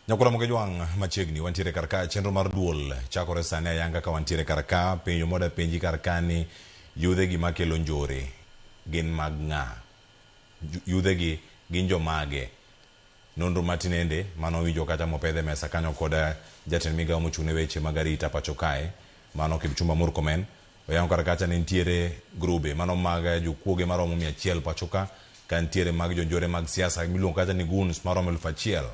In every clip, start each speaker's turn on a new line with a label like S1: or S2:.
S1: Nyakula Moge Jwang' machiegni wantiere kar ka chenro mar duol chakore sani ayanga ka wantiere kar ka penjo moda penji kar ka ni yudhe gi makelo njore gin mag ng'a Ju- yudhe gi gin jomage nonro ma tinende mane owinjo kata mopedh e mesa kanyo koda jatend migawo mochung' ne weche mag arita pacho kae mano Kipchumba Murkomen Oyango kar kacha ni nitiere grube mano mag jokuoge maromo mia achiel pacho ka, ka nitiere mag jonjore mag siasa miluongo kacha ni goons maromo elfu achiel.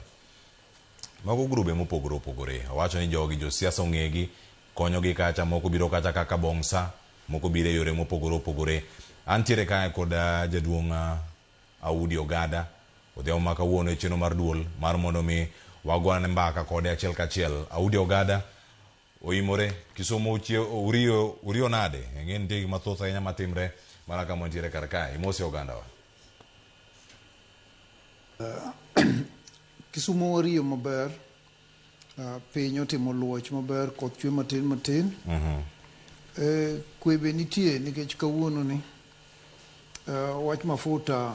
S1: Mago grube mopogore opogore. Owacho ni jogi josiasa ong'egi, konyogi kacha, moko biro kacha kaka bong'sa, moko biro e yore mopogore opogore. Antiere kae kod jaduong' Audi Ogada, odhiambo ma kawuono e chenro mar duol mar mondo mi wago ane mbaka kode achiel kachiel. Audi Ogada, Oimore. Kisumo utie urio urio nade? Eng'e nitie gik mathoth ahinya matimre mana kama wantiere kar kae. Imose ogandawa.
S2: Kisumo wariyo maber. Ah, Piny otimo luoch maber, koth chwe matin matin. Eh, Kwe be nitie nikech kawuononi eh, wach mafuta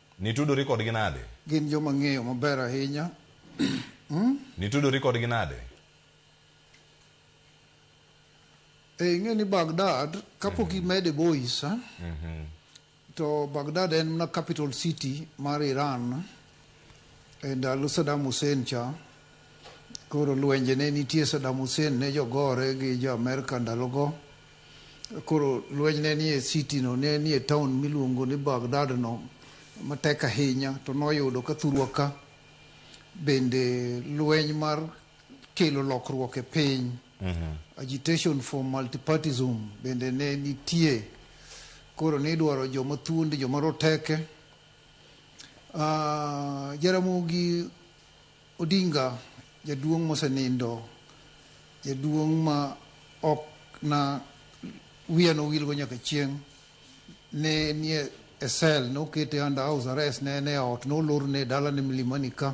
S2: Nitudori kodgi
S1: nade? Gin joma ang'eyo
S2: maber ahinya.
S1: Nitudori kodgi nade?
S2: E, ing'e ni Baghdad kapok imede boys eh? to Baghdad en mana capital city mar Iran e ndalo Saddam Hussein cha koro lwenje ne nitie Saddam Hussein ne jogore gi jo Amerka ndalogo Koro lweny ne nie city no, ne nie town miluongo ni Baghdad no matek ahinya, to noyudo ka thurwa ka bende lweny mar kelo lokruok e piny mhm. agitation for multipartism bende ne nitie koro nidwaro joma thuondi joma roteke uh, jaramogi Odinga jaduong mosenindo, jaduong ma ok na wiya nowil go nyaka chieng, ne nie e cell, nokete under house arrest, ne en e ot, nolorne dalane Milimani ka.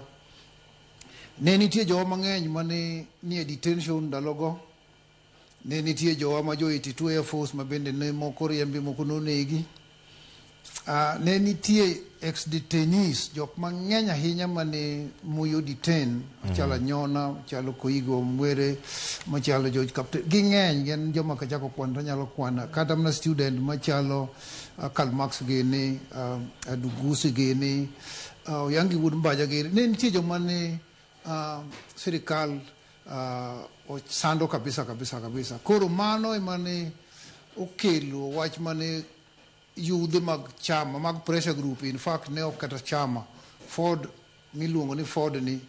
S2: Ne nitie jowa mangeny mane nie detention ndalogo Ne nitie jowa ma jo-Iti two Air Force ma bende ne moko riembi, moko nonegi. Ah, ne nitie ex-detainees, jok mang'eny ahinya mane Moi o-detain, machalo Anyona, machalo Koigo Omwere, machalo George Kapte. Ging'eny, gin joma kachako kwano to anyalo kwana. Kata mana student machalo ah, Karl Marx gini, ah, Adugusi gini, ah, Oyangi Wuod Mbaja gini. Ne nitie joma ne Uh, sirikal uh, ochando kabisa kabisa kabisa. Koro mano ema ne okelo wach mane yudhe mag chama mag pressure group in fact ne ok kata chama Ford miluongo ni Ford ni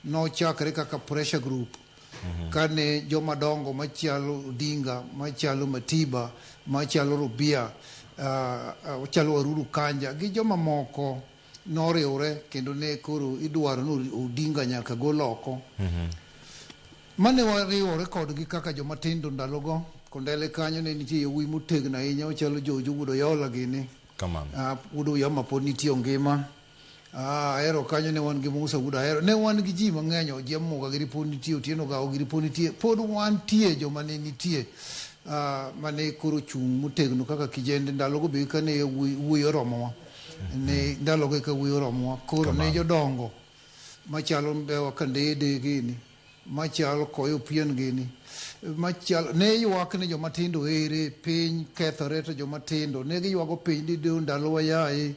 S2: nochakre kaka pressure group mm -hmm. kane joma dongo machalo Odinga machalo Matiba machalo Rubia uh, uh, chalo Waruru Kanja gi joma moko noriwre kendo ne koro idwaro ni Odinga nyaka gol oko. Mane wariwore kodgi kaka joma tindo ndalogo, Kondele kanyo ne nitie yawuoyi motegno ahinya machalo Jojo wuod Oyola gini. Kamano. Ah, wuod Oyoma pod nitie ongima. Ah, Ahero kanyo ne wan gi Musa wuod Ahero. Ne wan gi ji mang'eny, Ojiambo Gagiri pod nitie, Otieno Gawo Giri pod nitie. Pod wantie joma ne nitie ah, mane koro ochung' motegno kaka kijende ndalogo be kane yawuoyi wuoyi oromowa. ni ndalogo eka wiye oromowa koro ne jodongo machalo mbewa kandede gini machal koyo pien gini machal ne ywak ni joma tindo ere piny kethore to joma tindo ne giywago piny ni de ndalowa yaye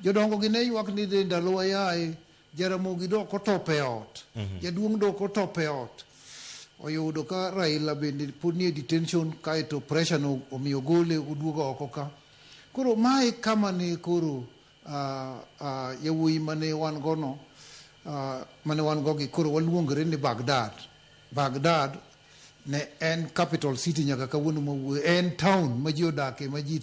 S2: jodongo gi ne ywak ni de ndalowa yaye jaramogi dok otop e ot jaduong' dok otop e ot oyudo ka raila bende pod nie detention kaeto pressure no omiyo gole oduogo oko ka Koro mae kama ne koro yawuoyi mane wan gono mane wan go gi koro waluongore ni Baghdad. Baghdad ne en capital city nyaka kawuono mawuoyo en town ma ji odake ma ji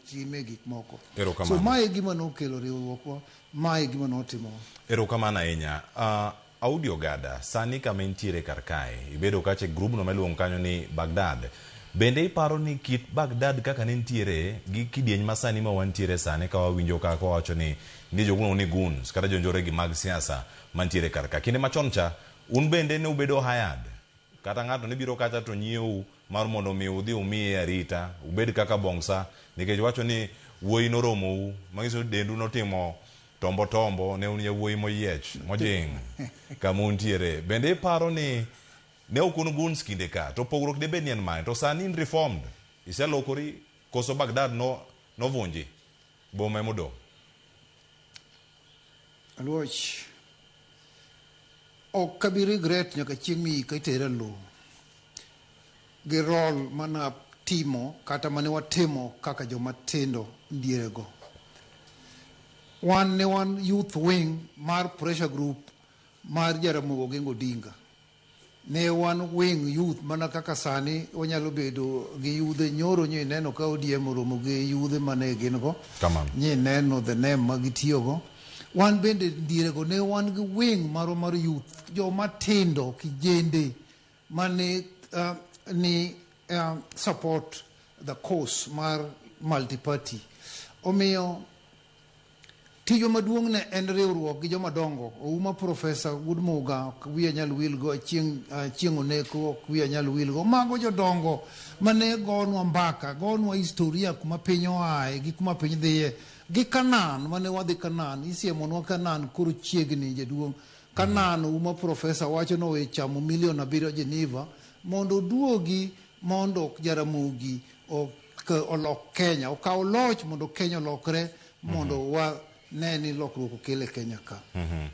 S2: time gik moko so mae gima nokelo riwruokwa mae gima notimowa erokamano
S1: ahinya
S2: uh, Audi
S1: Ogada, sani kama intiere kar kae, ibedo okache e grubno ma iluongo kanyo ni Baghdad. Bende iparo ni kit Baghdad kaka ne nitiere gi kidieny ma sani ma wantiere sani ka wawinjo ka ka wawacho ni nitie jok miluongo ni goons kata jonjoregi mag siasa mantiere kar ka. Kinde machon cha, un bende ne ubedo hired. Kata ng'ato ne biro kacha to nyiewou mar mondo omi udhi umiye arita, ubed kaka bongsa nikech wacho ni wuoyi noromou, manyiso ni dendu notimo Tombo Tombo ne un yawuoyi moyiech, mojing', kama untiere. Bende iparo ni ne ok un guns kinde ka, to pogruok debed ni en mane? To sani in reformed, iselokori, koso Baghdad no, novunji? Boma ema odong'.
S2: Aluoch, ok abi regret nyaka chieng' miyika itera e lowo. gi roll mana timo kata mane watimo kaka joma tindo dierego. Wan ne wan youth wing mar pressure group mar Jaramogi Oginga Odinga. Ne wan wing youth mana kaka sani wanyalo bedo gi yudhe nyoro nyi neno ka ODM oromo gi yudhe mane gin go. Kamano. Nyi neno the name ma gitiyogo. Wan bende dierego ne wan gi wing marwa mar youth joma tindo kijende mane uh, ni uh, support the course mar multiparty omiyo tijwa maduong' ne en riwruok gi joma dongo ouma profesa gudmuga ok wiya nyal wilgo chieng' ah, chieng' oneko ok wiya nyal wilgo mago jodongo mane gonwa mbaka gonwa historia kuma piny oaye gi kuma piny dhiye gi kanan mane wadhi kanan isiemonwa kanan koro chiegni jaduong' Ka nano uma professor wacho nowe chamo million abiriyo Geneva mondo oduogi mondo Jaramogi ok olok Kenya, okaw loch mondo Kenya olokre mondo mhm. wa ne ni lokruok okel e Kenya ka. Mhm.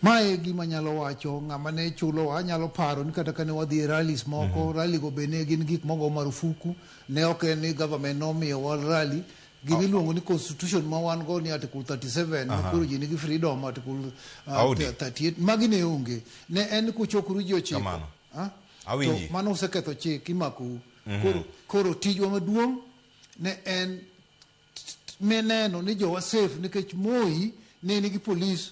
S2: Ma e gima nyalo wacho ng'ama ne chulo wa nyalo paro ni kata kane wadhi e rallies moko, mhm. rally go be ne gin gik mogo marufuku, ne ok en ni government nomiyo wa rally Gima iluongo ni constitution ma wan go ni article 37 ma koro ji nigi freedom article uh, Audi. 38 magi ne onge. Ne en kuchokoru ji ochiko. Kamano. Ah? Awinji. To mano useketho chik imakou. Koro koro tijwa maduong' ne en ne neno ni jowa safe nikech Moi ne nigi police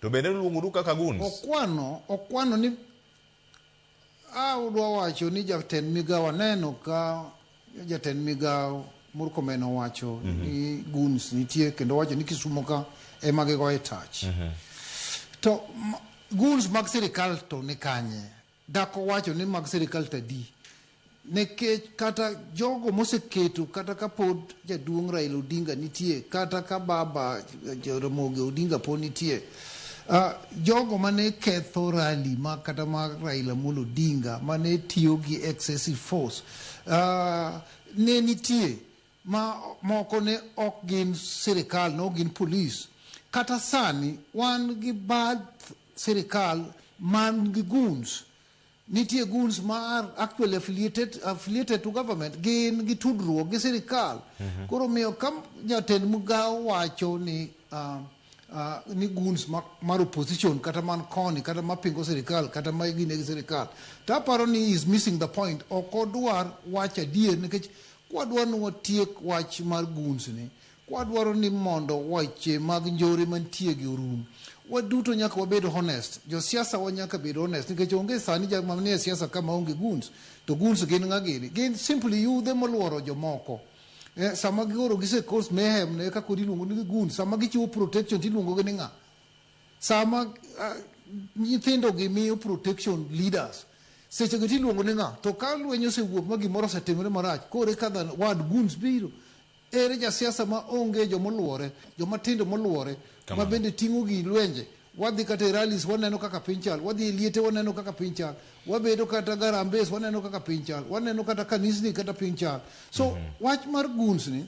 S1: To bende noluongoru kaka guns. Okwano, okwano
S2: ni a udwa wacho ni jatend migawo aneno ka jatend migawo Murkomen owacho mm -hmm. ni guns nitie kendo wacho ni Kisumo ka ema gigoye touch. Mm -hmm. To guns mag sirikal to ni kanye? Dak owacho ni mag sirikal tadi. Nekech kata jogo moseketo kata ka pod jaduong' Raila Odinga nitie, kata ka baba Jaramogi Odinga pod nitie, ah, jogo mane ketho rally ma kata ma Raila Amolo Odinga mane tiyo gi excessive force ah, ne nitie ma moko ne ok gin sirikal, ne ok gin polis. Kata sani wan gi bath sirikal man gi goons. Nitie goons ma are actually affiliated, affiliated to government, gin gi tudruok gi sirikal. Koro miyo ka jatend migao wacho ni ah, ah, ni goons ma, mar opposition kata man koni kata mapingo sirikal kata ma gine gi sirikal to aparo ni he is missing the point ok odwar wacho adier nikech Kwadwa ni watiek wach mar goons ni, kwadwaro ni mondo weche mag njore mantie gi orum, waduto nyaka wabed honest. Josiasa wa nyaka bed honest nikech onge sani jal ma nie siasa ka ma onge goons. To goons gin ng'a gini? Gin simply yudhe moluoro jomoko. Eh, sama gioro gise cause mayhem ne eka koro iluongo ni goons. Sama gichiwo protection to iluongo gi ni ng'a? Sama uh, nyithindo gi miyo protection leaders seche go tiluongo ni ng'a to ka lweny osewuok ma gimoro osetimore marach kore ka dhan wad guns biro ere jasiasa ma onge jomoluore jomatindo moluore ma bende ting'o gi lwenje wadhi kata e rallies waneno kaka piny chal wadhi e liete waneno kaka piny chal wabedo kata garambes waneno kaka piny chal waneno kata kanisni kata piny chal so mm -hmm. wach mar guns ni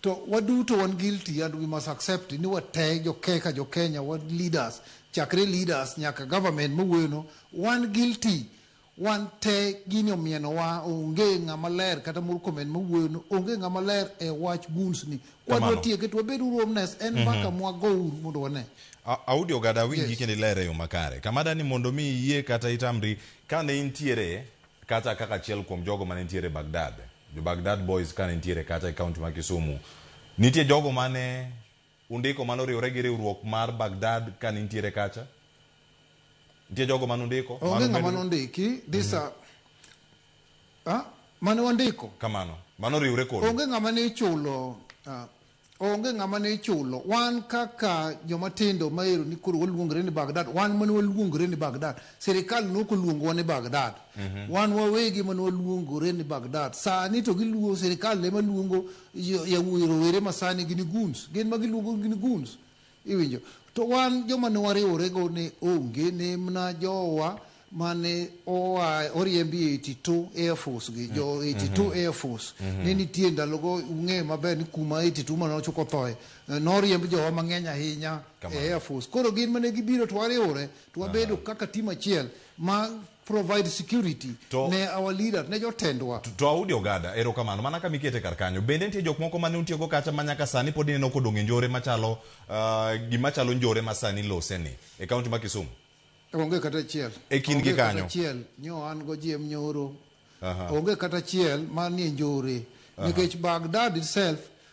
S2: To waduto wan guilty and we must accept ni watee jokeka jokenya wa leaders chakre leaders nyaka government mawuoyono wan guilty wan tee gini omienowa onge ng'ama ler kata moro comment mawuoyono onge ng'ama ler e wach guns ni kwadwa Kamano. tieke to wabed uru omnes en Mhm. mbaka mwago uru mondo wane A- Audi Ogada
S1: winji kendo ilere e yo makare. Kamada ni mondo mi iyie kata itamri kane intiere Kata kaka achiel kuom jogo mane nitiere e Baghdad, jo Baghdad Boys kane nitiere kacha e kaunti ma Kisumu, nitie jogo mane undiko mane oriwore gi riwruok mar Baghdad kane intiere kacha? Nitie jogo mane undiko? Onge ng'ama nondiki,
S2: this are, ah, mane wandiko. Kamano. Mano
S1: oriwre kodu. Onge ng'ama ne ichulo,
S2: ah, Onge ng'ama ne ichulo. Wan kaka joma tindo ma ero ni koro waluongre ni Baghdad, wan mane waluongre ni Baghdad. Sirikal ne ok oluongowa ni Baghdad. Wan wawegi mane waluongore ni Baghdad. Sani to giluo, sirikal ema luongo yawuoyi rowere ma sani gini goons. Gin ma giluongo gini goons. Iwinjo? To wan joma ne wariworego ne onge, ne mna jowa mane oa oriembi e 82 Air Force gi jo 82 Air Force ne nitie ndalogo ung'e maber ni kuma 82 mane ochuk othoe eh, noriemb jowa mang'eny ahinya e Air Force koro gin mane gibiro to wariwore to wabedo kaka tim achiel ma provide security to, ne our leader ne jotendwa to, to audi ogada
S1: erokamano mana ka mikete kar kanyo bende nitie jok moko mane utiego kacha ma nyaka sani pod ineno kodong' e njore machalo uh, gima chalo njore ma sani loseni e kaunti ma kisumu onge kata
S2: achiel e kind gi kanyo
S1: achiel nyo an go
S2: jiem nyoro onge kata achiel manie njore nikech bagdad itself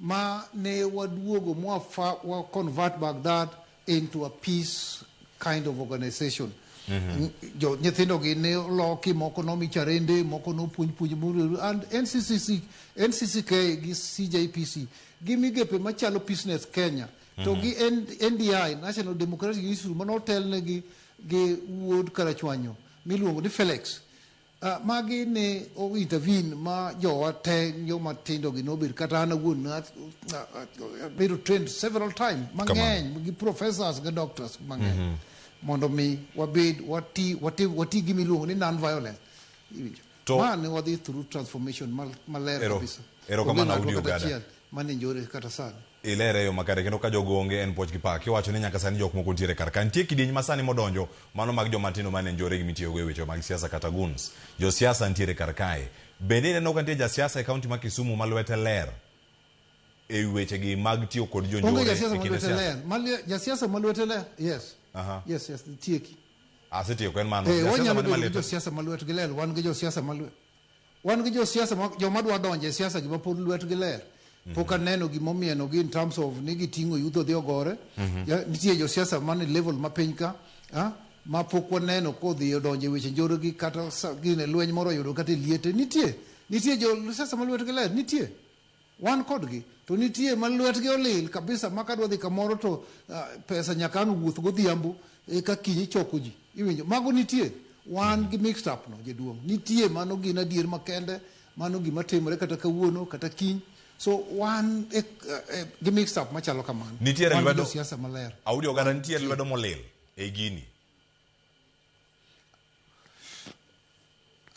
S2: ma ne waduogo mwa wa convert Baghdad into a peace kind of organization mm -hmm. jo nyithindo gi ne loki moko nomi charende moko nopuonj puonj mururu and NCCC NCCK gi CJPC gi migepe machalo business Kenya mm -hmm. to gi NDI National Democratic Institute manotelne gi gi wuod Karachwanyo miluongo ni Felix Uh, magi ne owita vin ma jowa te joma tindo gi nobet kata an awuon abedo trained several times mang'eny gi professors gi doctors mang'eny mm -hmm. mondo mi wabed wati wati wati gi miluongo ni non violence iwinjo to ma ne wadhi through transformation maler kabisa erokamano udi
S1: ogada mane njore kata
S2: sani ilere e yo makare
S1: kendo ka jogo onge en puoch gi pak kiwacho ni nyaka sani jok moko nitiere kar ka nitie kidieny masani modonjo mano mag joma tindo mane njore gi mitiyogo e weche mag siasa kata guns josiasa nitiere kar kae bende ineno ka nitie jasiasa e kaunti ma Kisumu ma lwete ler e wi weche gi mag tiyo kod onge jonjore jasiasa e ma kinde lwete siasa ler Ma lwe-
S2: jasiasa ma lwete ler yes Aha. yes yes tieki asetieko en
S1: mano Eh, jasiasa wanyalo mane bedo gi malete josiasa ma lwetgi ler
S2: wan gi josiasa ma lwe- Wan gi josiasa ma- joma dwa donjo e siasa gi mapod lwetgi ler pok aneno gima omienogi in terms of ni giting'o yudho dhi ogore Mhm. Ya, nitie josiasa man e level ma piny ka ah, ma pok waneno kodhi odonjo e weche njore gi kata sa- gine lweny moro oyudo kata e liete nitie nitie josiasa ma lwetgi ler nitie Wan kodgi. To nitie ma lwetgi olil kabisa ma kadwa dhi kamoro to pesa nyaka ang' wuoth godhiambo eka kiny ichoko ji. Iwinjo? Mago nitie. Wan gi mixed up no jaduong'. Nitie mano gin adier makende. Mano gima timore kata kawuono kata kiny. So wan gi mixed up machalo kamano. Nitiere lwedo. Wan gi josiasa
S1: maler. Audi
S2: oganda nitiere
S1: lwedo molil ei gini.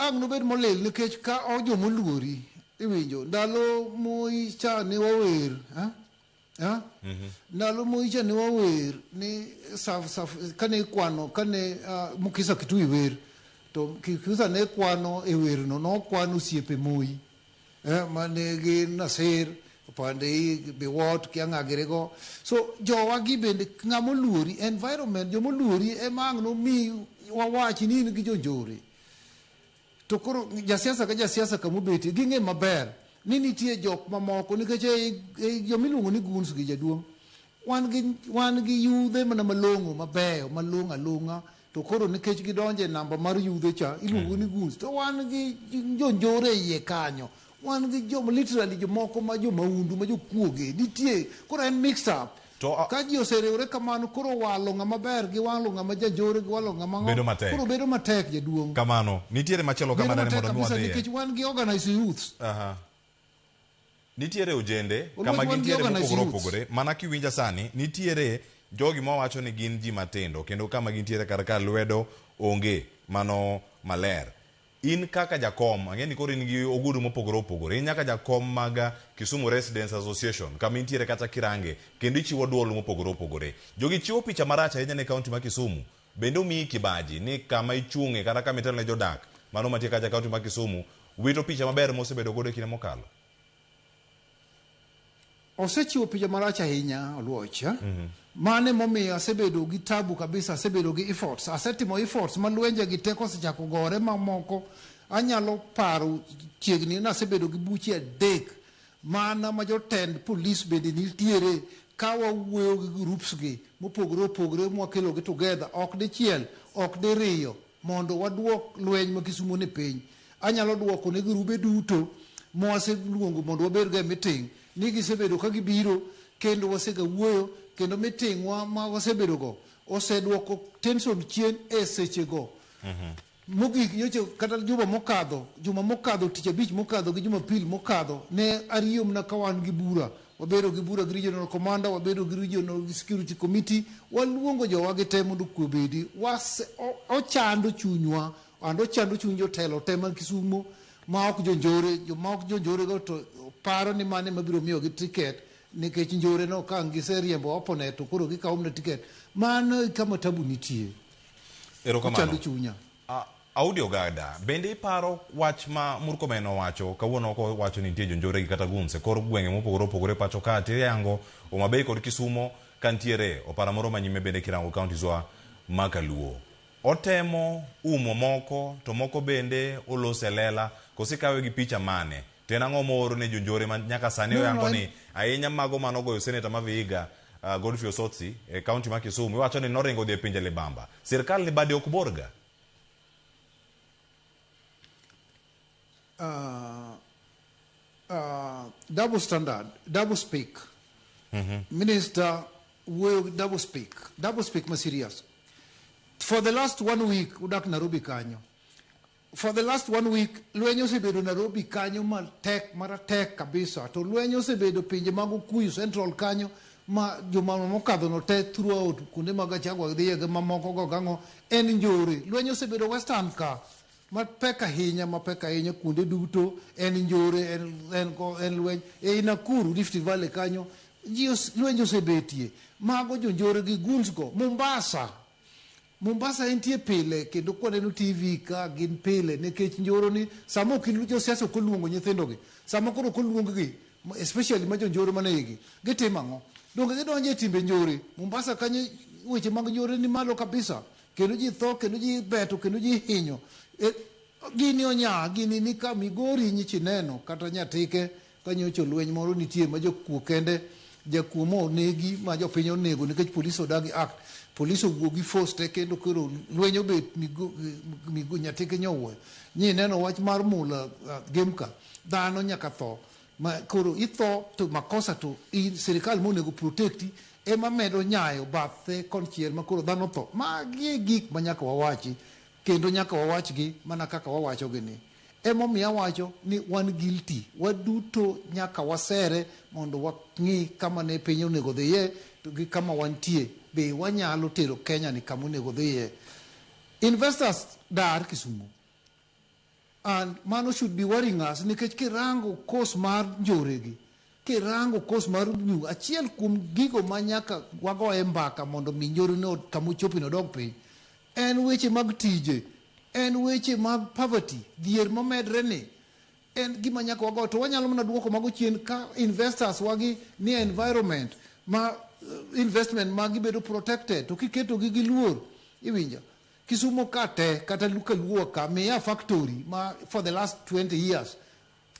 S2: Ang' nobed molil nikech ka o jo moluori iwinjo ndalo moi cha ne wawer ha? Ha? ndalo moi cha ne wawer ni saf saf kane ikwano kane ah, mukisa kitui wer to kikusa ne kwano e werno nokwano osiepe moi eh, ma ne gin Nasir, opande i biwot kia ng'a girigo. So jowa gi bende ng'a moluori, environment joma oluori ema ang' nomi wawachi ni in gi jonjore. To koro jasiasa ka jasiasa kama obetie ging'e maber ni nitie jok mamoko nikech ei- ei joma iluongo ni guns gi jaduong' Wan gi wan gi yudhe mana malong'o mabeyo malong' along'a to koro nikech gidonje namba mar yudhe cha iluongo ni guns to wan gi jonjore e iye kanyo wan gi joma literally jomoko ma jomaundu ma jokuoge nitie koro en mix up To a- ka ji oseriwore kamano koro walo ng'ama ber gi walo ng'ama janjore gi walo ng'ama ng'o- Bedo matek. koro bedo matek jaduong' Kamano. Nitiere
S1: machielo bedo kamano ni matek mondo mi kabisa wadhiye. nikech wan gi organized
S2: youths Aha.
S1: Nitiere ojende Oluoch kama wan gi gintiere organized mopogore youths. opogore. Mana kiwinja sani, nitiere jogi mawacho ni gin ji matindo kendo kama gintiere kar ka lwedo onge mano maler. In kaka jakom, ang'e ni koro in gi ogudu mopogore opogore. In nyaka jakom mag ah, Kisumu Residents Association kama intiere kata kirange kendo ichiwo duol mopogore opogore. Jogi chiwo picha marach ahinya ne kaunti ma Kisumu Bende omiyi kibaji ni kama ichung'e kata kama itelo ne jodak mano mantie kacha kaunti ma Kisumu wito picha maber mosebedo godo e kinde mokalo?
S2: Osechiwo picha marach ahinya Oluoch. Mm -hmm. Mano emomiyo asebedo gi tabu kabisa, asebedo gi efforts, asetimo efforts ma lwenje gi teko osechako gore mamoko. Anyalo paro chiegni nasebedo gi buche adek Mana ma jotend police bende nitiere ka wawuoyo gi groups gi mopogore opogore ma wakelogi together ok dichiel ok diriyo mondo waduok lweny ma Kisumo ni piny. Anyalo duoko ne girube duto ma waseluongo mondo wabed go e meeting ni gisebedo ka gibiro kendo wasega wuoyo kendo meeting wa ma wasebedo go oseduoko tension chien e seche go. Mogik nyocha kata juma mokadho, juma mokadho, tich abich mokadho gi jumapil mokadho ne ariyo mna ka wan gi bura. Wabedo gi bura gi regional commander, wabedo gi regional gi security committee, waluongo jowa gi te mondo kwe obedi. Wase, o, ochando chunywa, and ochando chuny jotelo te man Kisumo ma ok jonjore, joma ok jonjore go to paro ni mano ema biro miyogi ticket nikech njore no ka ang' giseriembo opponent to koro gikawo mna ticket. Mano e kama tabu nitie. Erokamano.
S1: chunya. A- Audi Ogada, bende iparo wach ma Murkomen owacho kawuono oko wacho ni nitie jonjore gi kata gunse kor gwenge mopogore opogore pacho ka tiyango Homa Bay kod Kisumo ka nitiere opara moro manyime bende kirango counties wa ma Kaluo. Otemo umo moko to moko bende olose lela kose kawe gi picha mane? To en ang'o mooro ne jonjore ma nyaka sani no, oyango no, ni ahinya mago ma nogoyo seneta ma Vihiga uh, Godfrey Osotsi e kaunti ma Kisumu iwacho ni noringo dhi e pinje libamba. Sirkal ni bade ok borga. Uh, uh,
S2: double standard, double speak. Mm -hmm. Minister will double speak. Double speak ma serious. For the last one week udak Nairobi kanyo. For the last one week, lweny osebedo Nairobi kanyo matek maratek kabisa. To lweny osebedo pinje mag Okuyu Central kanyo ma juma mokadho no te throughout kuonde mag Gachagua dhiye gi mamoko go gang'o en njore. Lweny osebedo Western ka mapek ahinya mapek ahinya kuonde duto en njore en, en, ko- en lweny ei Nakuru Rift Valley kanyo ji os- lweny osebetie mago jonjore gi guns go Mombasa Mombasa entie pile kendo kwaneno TV ka gin pile nikech njoro ni sama ok ilu- josiasa ok oluongo nyithindogi sama koro ok oluonggi ma- especially ma jonjoro man eigi gitimo ang'o donge gidonjo e timbe njore Mombasa kanyo weche mag njore ni malo kabisa kendo ji tho kendo ji beto kendo ji hinyo e, gini onya gini ni ka migori nyichi neno kata nyatike Ka nyocha olweny moro nitie ma jakuo kende jakuo ma onegi ma jopiny onego nikech police odagi act police owuo gi force te kendo koro lweny obet migo, migo nyatike nyowuoyo nyi neno wach mar mula uh, gemka dhano nyaka tho ma koro itho to makosa to in sirikal monego protecti ema medo nyayo bathe konchiel ma koro dhano tho magi e gik ma nyaka wawachi kendo nyaka wawachgi mana kaka wawachogi ni Emomiyo awacho ni wan guilty. Waduto nyaka wasere mondo wang'i kama ne piny onego dhiye to gi kama wantie. Be wanyalo tero Kenya ni kama onego dhiye? Investors dar Kisumo. And mano should be worrying us nikech kirango course mar njore gi, Kirango course mar Ubyug, achiel kuom gigo ma nyaka wagoye mbaka mondo mi nyorino kama ochopino odog piny en weche mag tije, en weche mag poverty, dhier momedre ni en gima nyaka wago to wanyalo mana duoko mago chien ka investors wagi ni environment ma eh, investment ma gibedo protected to kiketogi gi luor iwinjo kisumo ka te kata luka luo ka miya factory ma for the last 20 years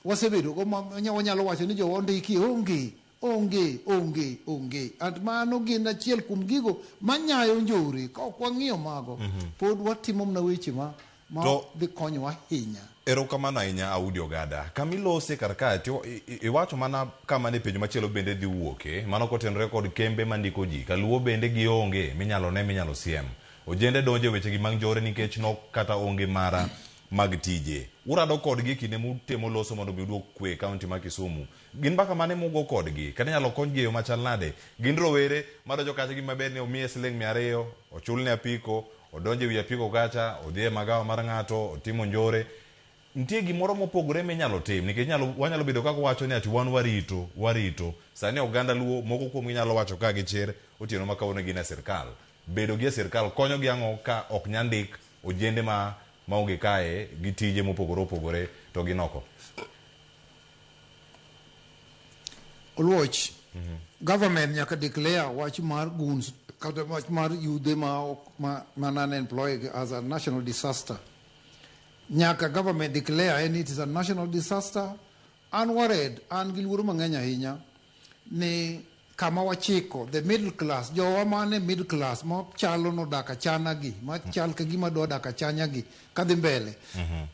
S2: wasebedogo ma wanya- wanyalo wacho ni jowa ondiki onge onge onge onge and mano gin achiel kuom gigo manyayo njore ka ok wang'iyo mago pod watimo mna weche ma ma To- dhi konyowa ahinya erokamano ahinya
S1: audi ogada kamilose kar ka to i- i- iwacho mana kama ne penjo machielo bende dhi wuoke mano kotenore kod kembe mandiko ji kaluo bende gionge minyalo ne minyalo siem ojende donjo e wechegi mag njore nikech nok kata onge mara mag tije. Urado kodgi e kinde mutemo loso mondo mi uduog kwe e kaunti ma Kisumu. Gin mbaka mane mugo kodgi? Kata inyalo konygi e yo machal nade? Gin rowere madonjo kacha gima ber ni omiye siling mia ariyo, ochulne apiko, odonjo e wi apiko kacha, odhi e magawa mar ng'ato, otimo njore. Nitie gimoro mopogore minyalo tim nikech inyalo, wanyalo bedo kaka wacho ni ati wan warito, warito. Sani oganda Luo moko kuomgi nyalo wacho ka gi chir otieno ma kawuono gin e sirkal. Bedo gi e sirkal konyo gi ang'o ka ok nya ndik ojende ma maonge kae gi tije mopogore opogore to gin oko?
S2: Oluoch, Government nyaka declare wach mar goons kata wach mar yudhe ma ok ma ma non employed as a national disaster. Nyaka government declare ni it is a national disaster An worried, an gi luoro mang'eny ahinya ni kama wachiko, the middle class, jowa man e middle class ma chalo nodak achana gi, ma chal ka gima dwa dak achanya gi kadhi mbele.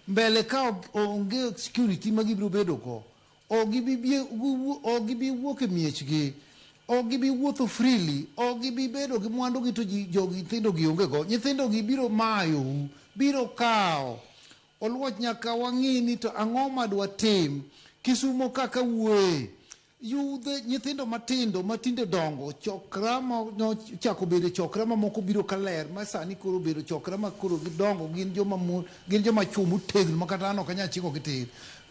S2: Mbele ka ok- onge security ma gibiro bedo go, ok gibi bie- giwu- ok gibi wuok e miechgi, ok gibi wuotho freely, ok gibi bedo gi mwandu gi to ji- jogi nyithindo gi onge go. Nyithindo gi biro mayou, biro kawo Oluoch nyaka wang'i ni to ang'o ma dwatim. Kisumo ka kawuoye. Yudhe nyithindo matindo matinde dongo chokra ma nochako bedo chokra ma moko biro ka ler ma sani koro bedo chokra ma koro gidongo gin joma mon gin joma chwo motegno ma kata an ok anyal chiko gitir.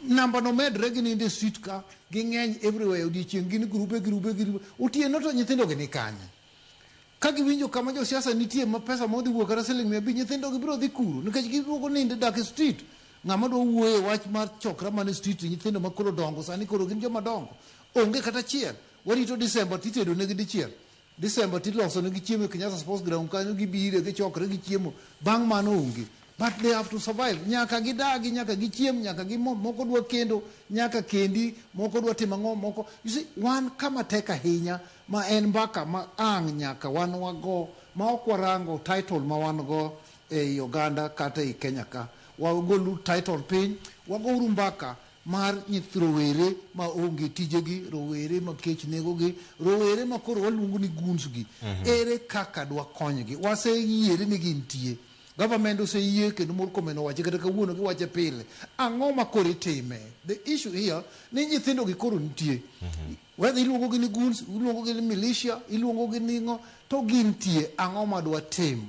S2: Namba no medre ginindo e street ka ging'eny everywhere odiechieng' gin grube grube grube. Otieno to nyithindo gi ni kanye? Ka giwinjo kama josiasa nitie ma pesa ma odhi wuok kata siling mia abich, nyithindogi biro dhi kuro nikech giduogo nindo e dak e street. Ng'ama dwa wuoyo e wach mar chokra man e street, nyithindo ma koro dongo sani koro gin joma dongo. Onge kata achiel. Warito Disemba to itedo negi dichiel. Disemba to iloso negi chiemo e Kenyatta Sports Ground kanyo gibire gichokre gichiemo. Bang' mano onge. But they have to survive. Nyaka gidagi, nyaka gichiem, nyaka gimodh, moko dwa kendo, nyaka kendi, moko dwa timo ang'o, moko. You see, wan kama tek ahinya Ma en mbaka ma ang' nyaka wan wago ma ok warango title ma wan go ei oganda kata ei Kenya ka. Wagoluru title piny, wagouru mbaka mar nyith rowere ma onge tijegi, rowere ma kech negogi, rowere ma koro waluongo ni goons gi. Ere kaka dwakonygi? Waseyiere ni gintie. Government oseyie kendo Murkomen owache kata kawuono giwache pile. Ang'o ma koro itime? The issue here ni nyithindogi koro nitie. Whether iluongogi ni goons, iluongogi ni militia, iluongogi ni ng'o, to gintie, ang'o ma dwatim?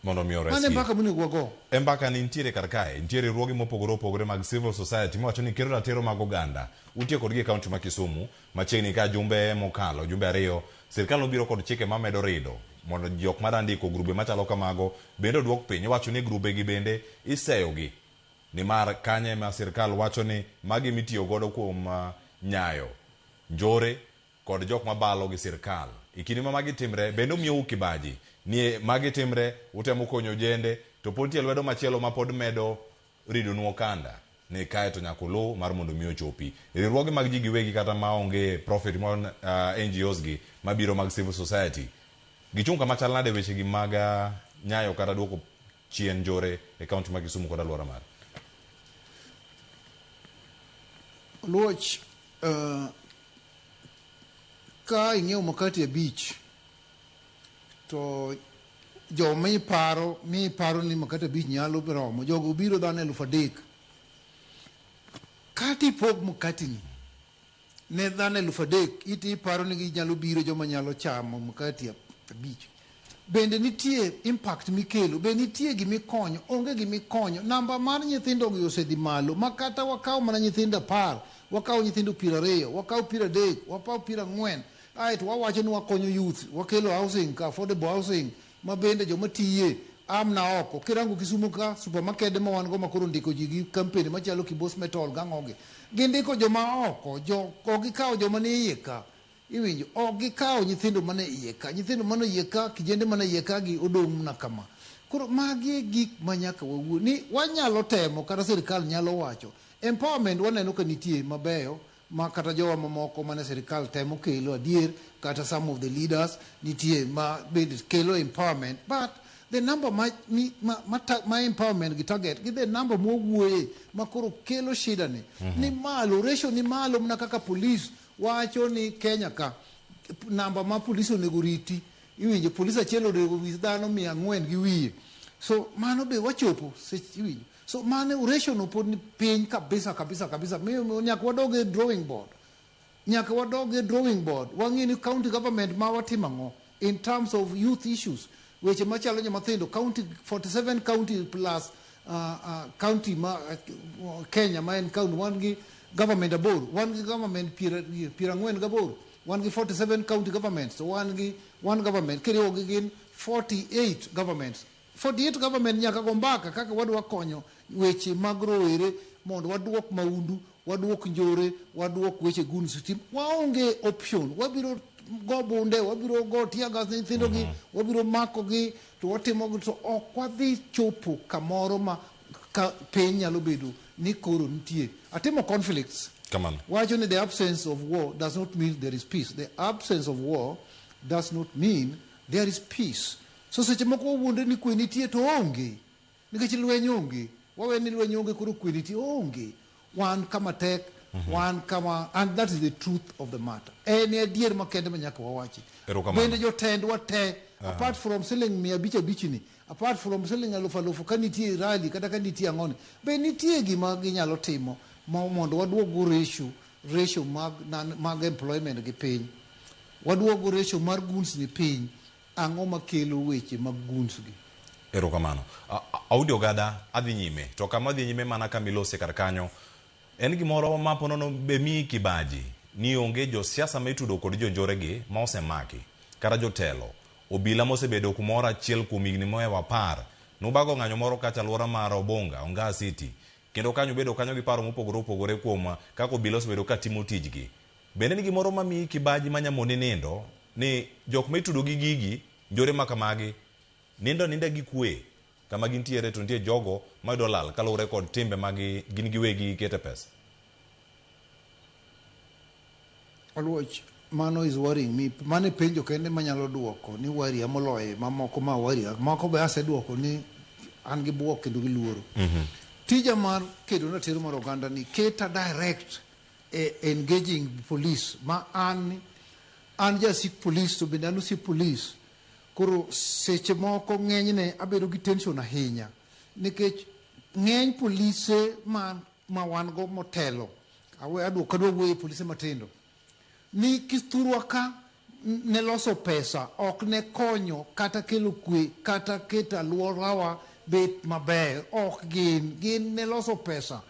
S2: Mondo omi oresgi.
S1: Mano e mbaka monego wago.
S2: E mbaka ni nitiere kar
S1: kae, nitie riwruoge mopogore opogore mag civil society mawacho ni kero ratiro mag oganda. Utiyo kodgi e kaunti ma Kisumu, machiegni ka jumbe mokalo, jumbe ariyo, sirkal nobiro kod chike mamedo rido mondo jok ma dwa ndiko grube machalo kamago bende oduok piny. Iwacho ni grubegi bende iseyogi. Nimar kanye ma sirkal wacho ni magi mitiyo godo kuom nyayo, njore kod jok mabalo gi sirkal. E kinde ma magi timre bende umiyou kibaji ni e magi timre, utemo konyo ojende to pod nitie lwedo machielo ma pod medo ridonu okanda ni kae to nyaka uluw mar mondo mi ochopi. Riwruoge mag ji giwegi kata ma onge profit mon, NGOs gi mabiro mag civil society gichung' kama chal nade e wechegi mag nyayo kata duoko chien njore e kaunti ma Kisumu kod alwora mare.
S2: Oluoch, uh, ka ing'iewo makati abich to jo miparo miparo ni makati abich nyalo romo jogo biro dhano eluf adek kati pog makatini ne dhano eluf adek iti iparo ni ginyalo biro joma nyalo chamo mkati abich bende nitie impact mikelo be nitie gimikonyo onge gimikonyo namba mar nyithindo gi osedhi malo ma kata wakawo mana nyithindo apar wakawo nyithindo piero ariyo wakawo piero adek wakawo piero ang'wen aeto wawacho ni wakonyo youth wakelo housing affordable housing ma bende joma tiye a mna oko. Kirango Kisumo ka, supermakede ma wan go ma koro ndiko ji gi kampeni machalo Kibos Metal gang'ogi, gindiko joma a oko, jo, ok gikawo joma ni iye ka. Iwinjo? Ok gikawo nyithindo mane iye ka. Nyithindo mane iye ka, kijende mane iye ka gi odong' mna kama. Koro magi e gik ma nyaka wawuo ni wanyalo temo kata sirkal nyalo wacho. Empowerment waneno ka nitie mabeyo, ma kata jowa mamoko mane sirikal temo kelo adier kata some of the leaders nitie ma bende kelo empowerment but the number ma, mi, ma, ma, ta, ma empowerment gi target gi the number mwawuoye ma koro kelo shida ni mm-hmm. ni malo ratio ni malo mna kaka police wacho ni Kenya ka namba ma police onego riti iwinjo police achiel onego wis dhano mia ang'wen gi wiye so mano be wachopo iwinjo So mane oration opod ni piny kabisa kabisa kabisa. Mi nyaka wadog e drawing board. Nyaka wadog e drawing board. Wang'e ni county government ma watimo ang'o in terms of youth issues. Weche machalo nyo mathindo county 47 county plus uh, uh, county ma uh, Kenya ma en county wan gi government aboro, wan gi government piero piero ang'wen gaboro, wan gi 47 county governments, wan gi one government kiriwo gi gin 48 governments. 48 government nyaka go mbaka kaka wadwa konyo weche mag rowere mondo waduok maundu, waduok njore, waduok weche guns team. Waonge option, wabiro go bunde, wabiro go tear gas ne nyithindo gi, wabiro mako gi to watimo gi to ok wadhi chopo kamoro ma ka piny nyalo bedo ni koro nitie. Atimo conflicts. Kamano. Wacho ni the absence of war does not mean there is peace. The absence of war does not mean there is peace. So seche moko wawuondre ni kwe nitie to oonge. Nikech lweny onge. Wawe ni lweny onge koro kwe nitie. Oonge. Wan kama tek. Wan kama and that is the truth of the matter. En e adier makende ma nyaka wawachi. Erokamano. Bende jotendwa te apart from siling mia abich abich ni apart from siling alufu alufu ka nitie rally kata ka nitie ang'o ni be nitie gima ginyalo timo ma mondo waduoggo ratio ratio mag nan- mag employment gi piny. Waduoggo ratio mar goods ni piny. Ang'o makelo weche mag guns gi? Erokamano.
S1: Audi Ogada, adhi nyime. To kama adhi nyime mana kama ilose kar kanyo. En gimoro ma po nono be miyi kibaji ni onge josiasa ma itudo kod jonjore gi ma osemaki. Kata jotelo. Obila mosebedo kumoro achiel kuom higni mohewo apar nobago ng'anyo moro kacha alwora mar Obonga, Ongaa City. Kendo kanyo ubedo kanyo gi paro mopogore opogore kuom kaka obila osebedo ka timo tijgi. Bende ni gimoro ma miyi kibaji ma nyamoni nindo ni jok ma itudo gi gigi njore ma kamagi nindo aninda gi kwe kama gintiere to nitie jogo mayudo lal kaluwore kod timbe ma gin giwegi gikete pesa.
S2: Oluoch, Mano is worrying me. Mano e penjo kende manyalo duoko ni warrior moloye mamoko ma warrior. Moko be aseduoko ni an gi buok kendo gi luoro. Tija mar kedo ratiro mar oganda ni keta direct e engaging police ma an an jasik police to bende an osiep police koro seche moko ng'enyne abedo gi tension ahinya nikech ng'eny polise ma ma wan go motelo awe adwoko kadwa wuoye polise matindo ni kithurwa ka ne loso pesa ok ne konyo kata kelo kwe kata keto aluorawa bet maber. Ok gin. Gin ne loso pesa.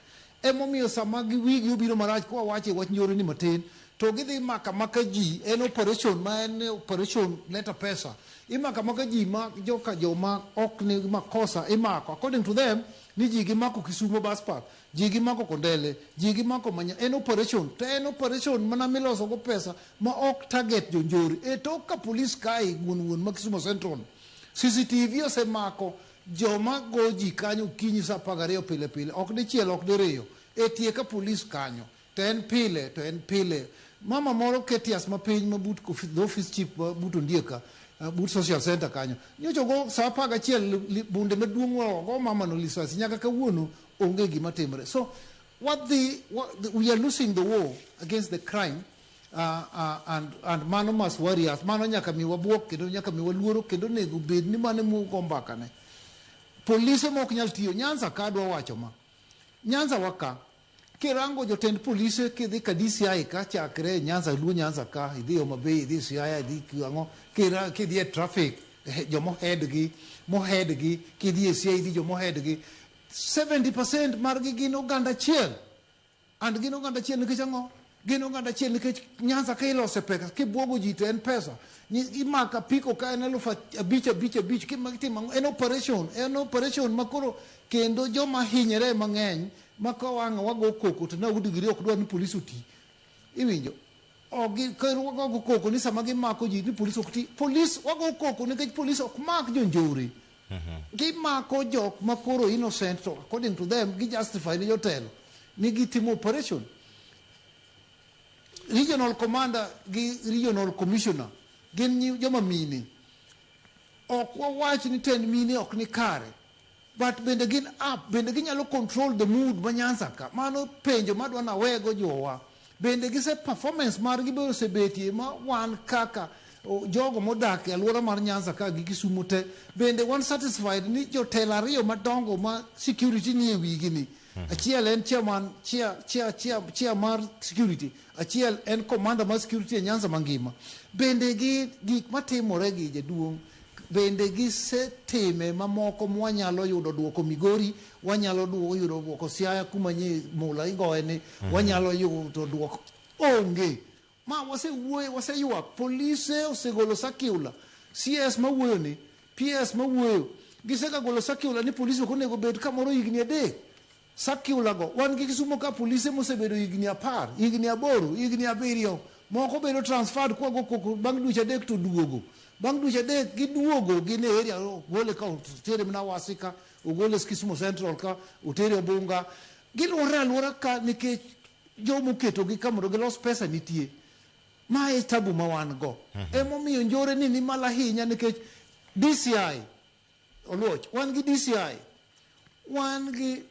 S2: Emomiyo sama gi wigi obiro marach kwa wache wach njore ni matin to gidhi maka maka ji en operation ma en operation leta pesa. Imaka maka ji ma joka joma ok ni makosa imako according to them ni ji gimako Kisumo bus park. Ji gimako kondele, ji gimako manya, en operation to en operation mana miloso go pesa ma ok target jonjore. E tok ka police kae wuon wuon ma Kisumo Central, CCTV osemako joma go ji kanyo okinyi saa apar gariyo pile pile, ok dichiel ok diriyo, e tie ka police kanyo. To en pile, to en pile. Mama moro Ketias ma piny ma but kofi- the office chief ma but Ondieka, eh, but social center kanyo. Nyocha ogo saa apar gachiel li- li- bunde maduong' wa- ogo mama no lisasi nyaka kawuono onge gima timre. So what the, what the we are losing the war against the crime uh, uh, and, and mano must worry us. Mano nyaka mi wabuok kendo nyaka mi waluoro kendo nego bed ni mano mugo mbakane. Polise ma ok nyal tiyo. Nyanza ka adwa wacho ma. Nyanza waka Kirango jotend polise kidhi ka DCI ka chakre Nyanza Luo Nyanza ka idhi Homa Bay idhi Siaya idhi Kiwango kira kidhi e traffic eh, jo mohead gi mohead gi kidhi e Siaya idhi jo mohead gi 70% margi gin oganda achiel and gin oganda achiel nikech ang'o Gin oganda achiel nikech Nyanza ka ilose pesa kibwogo ji to en pesa. Imaka piko ka en eluf abich abich abich kitimo en operation en operation makoro kendo joma hinyre mang'eny ma ka wang'a wago koko to na udigiri ok dwar ni polis oti. Iwinjo? Ogi koro wago koko ni sama gimako ji ni polis ok ti. Polis wago koko nikech polis ok mak jonjore. Gimako jok ma koro innocent to according to them gi justify ne jotelo ni gitimo operation. Regional commander gi regional commissioner gin nyi- joma mine. Ok wawach ni tend mine ok ni kare but bende gin up bende ginyalo control the mood ma Nyanza ka. Mano penjo madwa nawego jowa. Bende gise performance margi be osebetie ma wan kaka o, jogo modak e alwora mar Nyanza ka gi Kisumu te bende wan satisfied ni jotelo ariyo madongo ma security nie wigi ni achiel en chairman chair chair chair chair mar security achiel en commander mar security e Nyanza mangima bende gi gik matimore gi jaduong' Bende gisetime mamoko mwanyalo yudo duoko Migori, wanyalo duo, yudo duoko Siaya kuma nye mula igoye ni, mm. wanyalo yudo duoko onge. Ma wasewuoye, waseyuak, polise osegolo sakiula, CS mawuoyo ni, PS mawuoyo, gisega golo sakiula ni polise ok onego bed kamoro higni adek. Circulargo, wan gi Kisumo ka polise mosebedo higni apar, higni aboro, higni abiriyo. Moko bedo transferred kwa go koko bang' dweche adek to duogo. Bang' dweche adek giduogo gin e area ogole ka otere mana Awasi ka, ogole Kisumo Central ka, otere Obunga. Giluorre aluora ka nikech jomo oketogi ka mondo gilos pesa nitie. Ma e tabu ma wan go. Emomiyo njore ni ni malo ahinya nikech DCI Oluoch, wan gi DCI, wan gi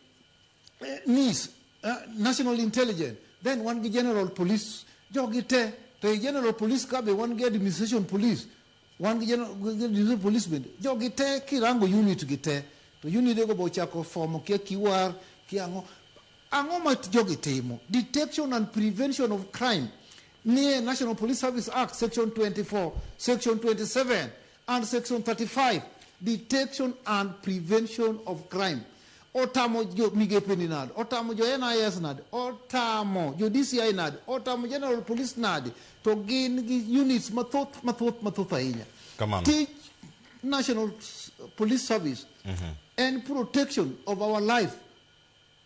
S2: eh, NIS, eh, National Intelligence, then wan gi General Police, jogi te, to e General Police ka be wan gi Administration Police, wan gi General gi Administration Police bende, jogi te kirango unit gi te, to unidego be ochako form kia kiwar, kia ang'o. Ang'o ma jogi timo? Detection and prevention of crime nie National Police Service Act section 24, section 27, And section 35 detection and prevention of crime otamo jo migepe ni nade otamo jo NIS nade otamo jo DCI nade otamo general police nade to gin gi units mathoth mathoth mathoth ahinya Kamano. tij national S- police service en protection of our life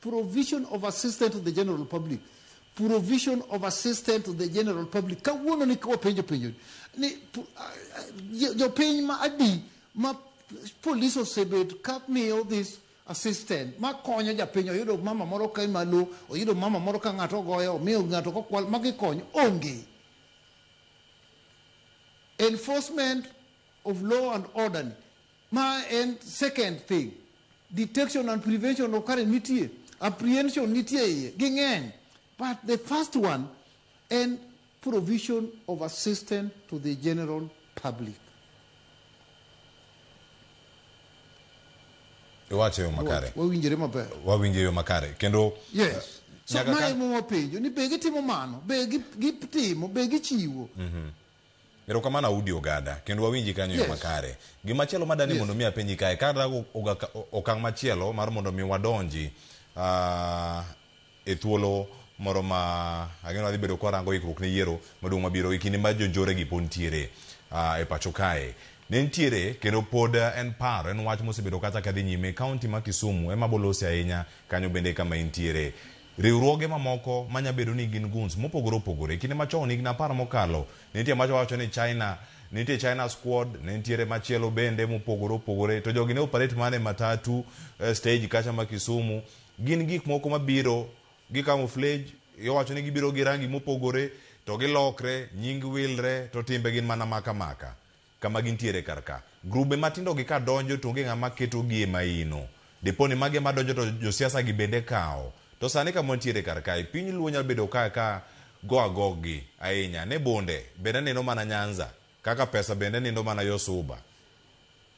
S2: Provision of assistance to the general public. Provision of assistance to the general public. Kawuono ni wapenjo penjo ni pu- ah, ah, jo- jopiny ma adi ma polis osebet ka miyo this assistant ma konyo japiny oyudo mama moro ka malo oyudo mama moro ka ng'ato ogoyo omiyo ng'ato kokwal ma gikonyo onge enforcement of law and order ni Ma en second thing. Detection and prevention of current nitie. Apprehension nitie iye. Ging'eny. But the first one en provision of assistance to the general public.
S1: Iwacho yo makare. Wawinjore maber.
S2: Wawinjo yo makare.
S1: Kendo Yes. So Nyaka
S2: mae kan- mowapenjo ni be gitimo mano, be gi- gitimo, be gichiwo.
S1: Erokamano Audi Ogada, kendo wawinji kanyo e yo makare. Gima chielo ma dani mondo mi apenji kae, kata okang' machielo mar mondo mi wadonji e thuolo moro ma ang'eyo wadhi bedo kwa rango ikruok ne yiero maduong' mabiro e kinde ma jonjore gi pod nitiere e pacho kae. Ne nitiere kendo pod en paro, en wach mosebedo kacha kadhi nyime, kaunti ma Kisumu ema bolose ahinya, kanyo bende kama intiere. Riwruoge mamoko ma nya bedo ni gin guns mopogore opogore. Kinde machon, higni apar mokalo, ne nitie macho wacho ni China, ne nitie China Squad, ne nitiere machielo bende mopogore opogore. To jogi ne operate mana e matatu, e stage kacha ma Kisumu. Gin gik moko mabiro gi camouflage, iwacho ni gibiro gi rangi mopogore, to gilokre, nying wilre, to timbe gin mana maka maka. kama gintiere kar ka. Grube matindogi ka donjo to onge ng'ama ketogi e maino. Dipo ni magi ema donjo to josiasagi bende kawo. To sani kama wantiere kar kae, piny luo nyalo bedo ka ka go agoggi ahinya. Ne bonde bende nindo mana Nyanza, kaka pesa bende nindo mana yo Suba.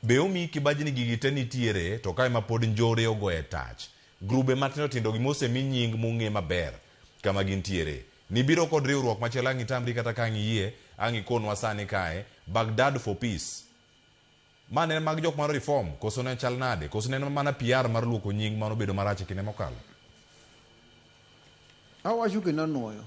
S1: Be omiyi kibaji ni gigi te nitiere to ka ema pod njore ogoye tach. Grube matindo tindogi mosemi nying mong'e maber kama gintiere. Nibiro kod riwruok machielo ang itamri kata ka ang iyie ang ikonwa sani kae Baghdad for peace. Ma ne mag jok mar reform koso ne chal nade? Koso ne en mana PR mar luoko nying mano bedo marach e kinde mokalo?
S2: Awacho kendo anwoyo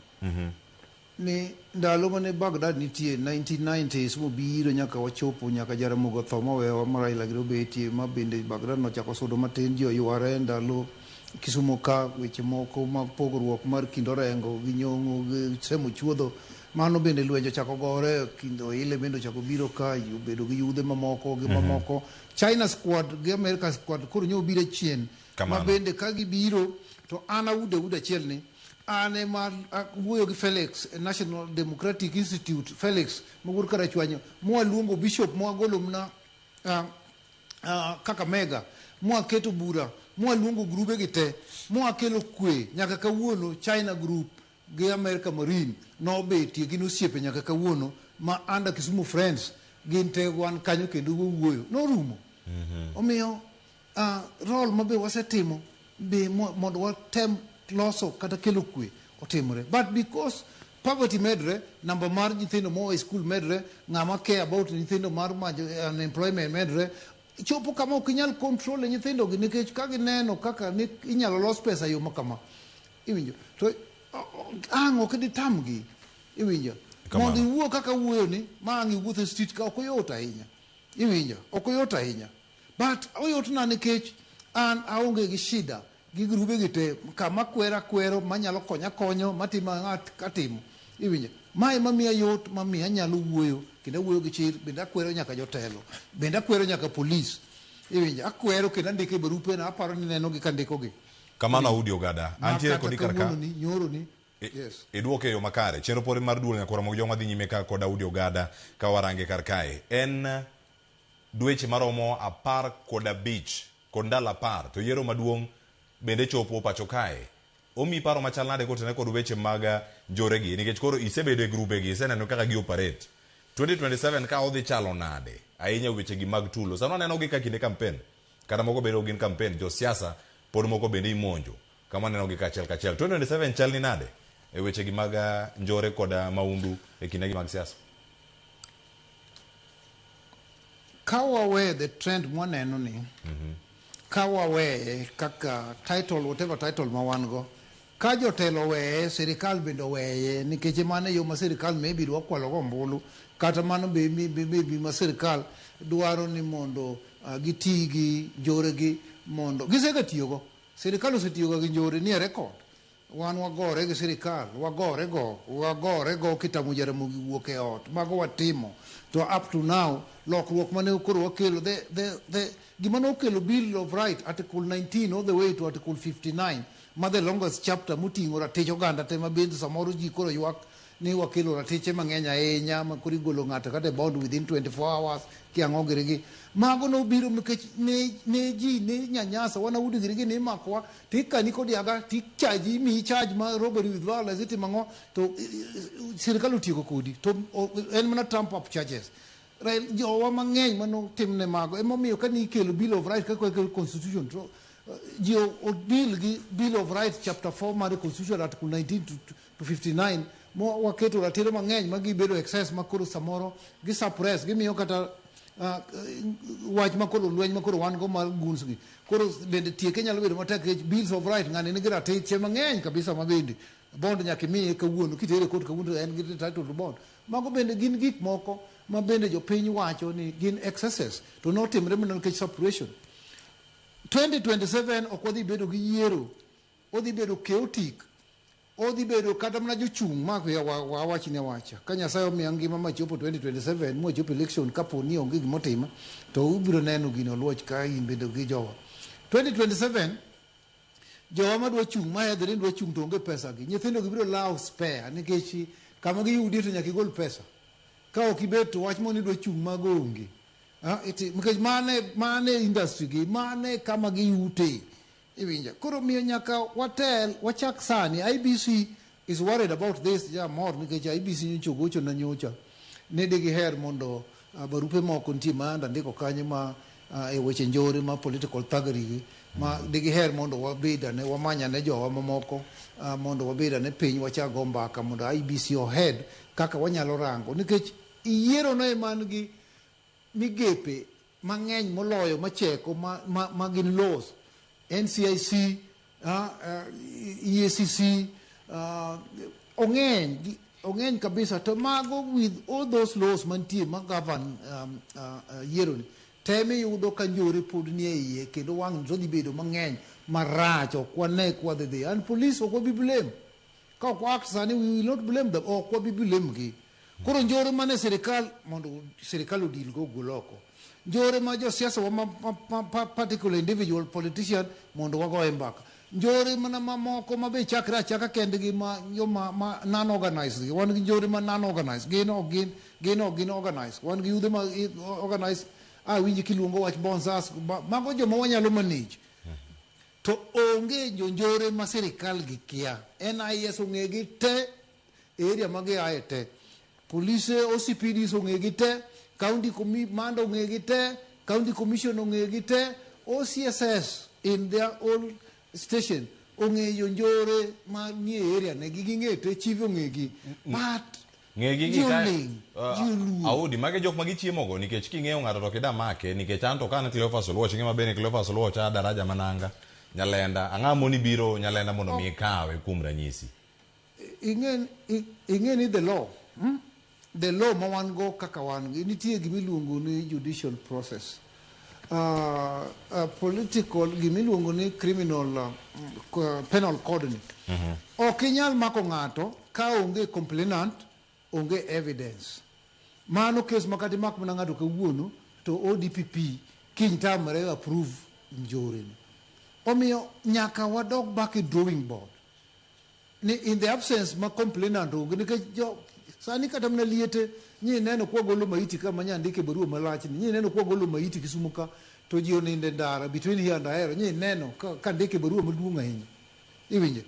S2: ni ndalo mane Baghdad nitie 1990s mobiro nyaka wachopo nyaka Jaramogi otho mowewa ma Raila gire obetie ma bende Baghdad nochako sudo matin ji oyware ndalo Kisumo ka weche moko mag pogruok mar kind Orengo gi Nyong'o gi Sam Ochuodho mano bende lwenje ochako gore kind Oile bende ochako biro ka obedo gi yudhe mamoko gi mamoko China squad gi America squad koro nyo obiro chien Kamano. ma bende ka gibiro to an auda auda achiel ni an ema wuoyo gi Felix e National Democratic Institute Felix mawuod Karachwanyo mwaluongo bishop mwagolo mna ah, uh, Kakamega mwaketo bura mwaluongo grube gi te mwakelo kwe nyaka kawuono China group gi America Marine nobetie gin osiepe nyaka kawuono ma anda Kisumu Friends gin te wan kanyo kendo wawuoyo norumo mm -hmm. omiyo uh, rol mabe wasetimo be mondo watem loso kata kelo kwe otimre but because poverty medre namba mar nyithindo moa e skul medre ng'ama care about nyithindo mar majo unemployment medre chopo kama ok inyal control e nyithindogi nikech ka gineno kaka ni inyalo los pesa e yo ma kama iwinjo to o- o- ang' ok ditamgi iwinjo Kamano. mondo iwuo kaka wuoyoni ma ang' iwuotho e street ka ok oyot ahinya iwinjo ok oyot ahinya But oyotna nikech an aonge gi shida gi grube gi te kama kwero akwero manyalo konyo akonyo matimo ang'at katimo iwinjo ma ema miya yot ma miya anyalo wuoyo kendo awuoyo gi chir bende akwero nyaka jotelo bende akwero nyaka polis iwinjo akwero kendo andiko e barupe na aparo ni nenogi kandikogi Kamano Audi Ogada,
S1: ma antiere kata kodi kar ka. kawuononi nyoroni
S2: I- yes Idwoke e yo makare.
S1: Chenro pod en mar duol nyakora mog joma dhi nyime ka kod Audi Ogada ka warange kar kae. En dweche maromo apar kod abich kod ndalo apar to yiero maduong' bende chopo pacho kae. Omiyi paro machal nade kotenore kod weche mag njoregi nikech koro isebedo e grubegi, iseneno kaka gi operate. Twenty twenty seven ka odhi chalo nade ahinya e wechegi mag tulo? Sani wanenogi ka kinde kampen kata moko bedo ok gin kampen, josiasa pod moko bende imonjo. Kama neno gi kachiel kachiel. 2027 chal ni nade e weche gi mag ah, njore kod ah, maundu e kinde gi mag siasa?
S2: Ka wawe the trend mwaneno ni, ka waweye kaka title, whatever title ma wan go, ka jotelo weye, sirikal bende oweye, nikech mano e yo ma sirikal maybe dwa kwalogo ombulu, kata mano be mi- mi- maybe ma sirikal dwaro ni mondo ah, giti gi njoregi mondo, gisegatiyogo. Sirikal osetiyoga gi njore nie rekod. Wan wagore gi sirikal, wagore go, wagore go kitamo Jaramogi wuok e ot. Mago watimo. To up to now, lokruok mane koro wakelo, the, the, the, gima nokelo Bill of Right, Article 19 all the way to Article 59, ma the longest chapter moting'o ratich oganda te ma bende samoro ji koro ywak ni wakelo ratiche mang'eny ahinya ma koro igolo ng'ato kata e bond within 24 hours kiang'o girigi mago nobiro nikech ne, ne ji ne nyanyasa wana udi girigi ne imakowa to ikani kod yaga to ichaji imiyi charge ma robbery with violence itimo ang'o to eh, eh, sirikal otieko kodi to o- en mana trump up charges Rael- jowa mang'eny manotimne mago emomiyo ka nikelo bill of right kaka ikelo constitution to eh, ji o- o- bill gi bill of right chapter 4 mar constitution article 19 to to 59 mo waketo ratiro mang'eny ma gibedo excess ma koro samoro gi suppress gimiyo kata uh, wach ma koro lweny ma koro wan go mar guns gi koro bende tieke nyalo bedo matek nikech bills of right ng'ani nigi ratiche mang'eny kabisa ma bende bond nyaka imiye kawuono kitere kot kawuono en gi title to bond mago bende gin gik moko ma bende jopiny wacho ni gin excesses to notimre mana nikech suppression 2027 ok wadhi bedo gi yiero Odhi bedo chaotic. Odhi bedo kata mana jochung' ma ya wa- wa- awach ni awacha. Ka Nyasaye omiya ngima ma chopo 2027 ma wachopo election kapo ni onge gima otima to ubiro neno gino oluoch ka in bende gi jowa. 2027 jowa ma dwa chung' ma hedhre ni dwa chung' to onge pesa gi. Nyithindo gi biro lawo spare nikech kama giyudie to nyaka igol pesa. Ka ok ibet to wach moro ni dwa chung' mago onge. Ah, iti- Nikech mane mane industry gi mane kama giyute. Iwinja. Koro miyo nyaka watel, wachak sani. IBC is worried about this, ja mor nikech IBC nyocha ogocho na nyocha. Ne de giher mondo uh, barupe moko nitie ma anda ndiko kanyo ma uh, e weche njore ma political thuggery gi ma mm. de giher mondo wabeda ne wamanya ne jowa mamoko uh, mondo wabeda ne piny wachak go mbaka mondo IBC ohead kaka wanyalo rango nikech iyiero no eman gi migepe mang'eny moloyo macheko ma, ma, ma gin laws ncic uh, ah, uh, eh, eacc uh, ah, ong'eny ong'eny kabisa to mago with all those laws mantie ma govern um, uh, uh, yieroni tem iyudo ka njore pod nie iye kendo wang' to dhi bedo mang'eny marach ok wane kwadhidhi and police ok wabi blame ka ok waakt sani we will not blame them ok wabi blame gi Koro njore mane sirikal mondo sirikal odil go gol oko. Njore ma josiasa wa ma, ma, ma, ma particular individual politician mondo wago e mbaka. Njore mana mamoko ma be chakre achaka kendgi ma yo ma, ma non organized gi. Wan gi njore ma non organized. Gin ok gin gin ok gin organized. Wan gi yudhe ma i- organized. Ah winji kiluongo wach bonsas ma- mago joma wanyalo manage. To onge jonjore ma sirikal gi kia. NIS ong'egi te Area ma giaye te. Polise, OCPDs ong'egi te, county command ong'egi te, county commission ong'egi te, OCSS in their old station ong'eyo njore ma nie area ne gi ging'e te chief ong'egi. But ng'egi gi ka
S1: Jolin, uh, joluo. audi mage jok ma gichiemo go nikech king'eyo ng'ato to kida make nikech an to kan Cleophas Oluoch ng'e maber ni Cleophas Oluoch a daraja mananga nyalenda ang'a moni biro nyalenda mondo mi ikawe kuom ranyisi
S2: Ing'e ni the law, the law ma wan go kaka wan gi, nitie gima iluongo ni judicial process. Uh, uh, political gima iluongo ni criminal uh, uh, penal code ni ok inyal mako ng'ato ka onge complainant onge evidence mano kes makata imak mana ng'ato kawuono to odpp kiny tamre approve njoreni omiyo nyaka wadog back e drawing board ni in the absence ma complainant onge nikech jo sani kata mana liete nyi neno kwa golo maiti ka manya ndike barua malach ni nyi neno kwa golo maiti kisumu ka to ji oninde ndara between here and ahero nyi neno ka, ka ndike barua maduong' ahinya iwinje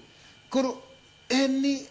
S2: koro en ni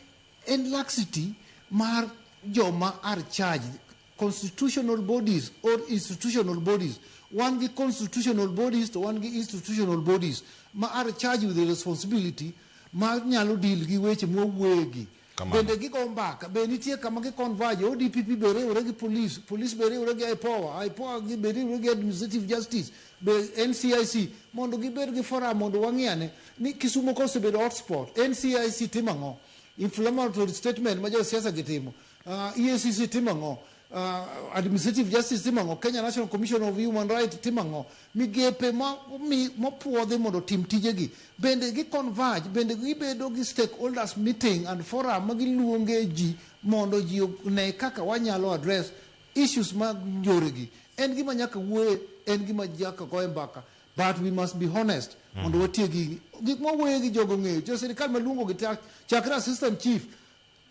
S2: en laxity mar joma are charged constitutional bodies or institutional bodies wan gi constitutional bodies to wan gi institutional bodies ma are charged with the responsibility ma nyalo deal gi weche mwawuoyegi Kamano. bende gigo mbaka be nitie kama gi converge odpp be riwre gi police police be riwre gi ipoa ipoa gi- be riwre gi administrative justice be ncic mondo gibed gi forum mondo wang'iane ni kisumo ka osebedo hotspot ncic timo ang'o inflammatory statement ma josiasa gitimo Uh, EACC timo ang'o? Uh, administrative Justice timo ang'o? Kenya National Commission of Human Rights timo ang'o? Migepe ma mi- mopuodhi mondo otim tijegi bende gi converge bende gibedo gi stakeholders meeting and forum ma giluonge ji mondo ji one kaka wanyalo address issues mag njoregi. En gima nyaka wuoye, en gima nyaka goye mbaka but we must be honest mondo watiegi gik ma wuoye gi jogo ng'eyo. Jo sirkal maluongo gi ta- chakre assistant chief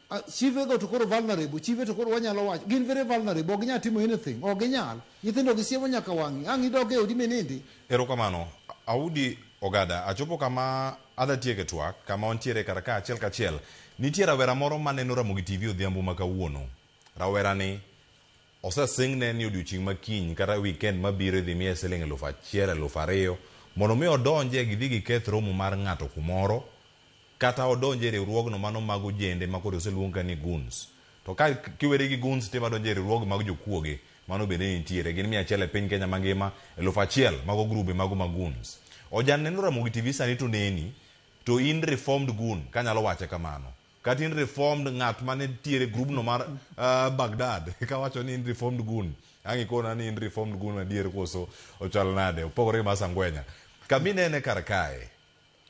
S2: Ah, chive go to koro vulnerable chive to koro wanyalo wacho gin very vulnerable ok ginyal timo anything ok ginyal nyithindo gi siemo nyaka wang'i ang' idog e odi minindi erokamano
S1: audi ogada achopo kama adha tieke twak kama wantiere kar ka achiel kachiel nitie rawera moro maneno ramogi tv odhiambo ma kawuono rawerani Osesingne ni odiechieng' ma kiny kata wikend ma biro idhi miye siling' eluf achiel, eluf ariyo mondo mi odonj e gidhi giketh romo mar ng'ato kumoro kata odonj e riwruogno mano mag ojende ma koro oseluong ka ni goons. To ka kiweri gi goons to imadonjo e riwruoge mag jokuoge mano bende nitiere. Gin mia achiel e piny Kenya mangima, eluf achiel mago grube mago ma goons. Ojanne noromo gi TV sani to oneni to in reformed goon kanyalo wache kamano. kata in reformed ng'at mane nitiere grubno mar uh, bagdad kawacho ni in reformed gun ang' ikona ni in reformed gun adier koso ochal nade opogore gi masangwenya kama inene kar kae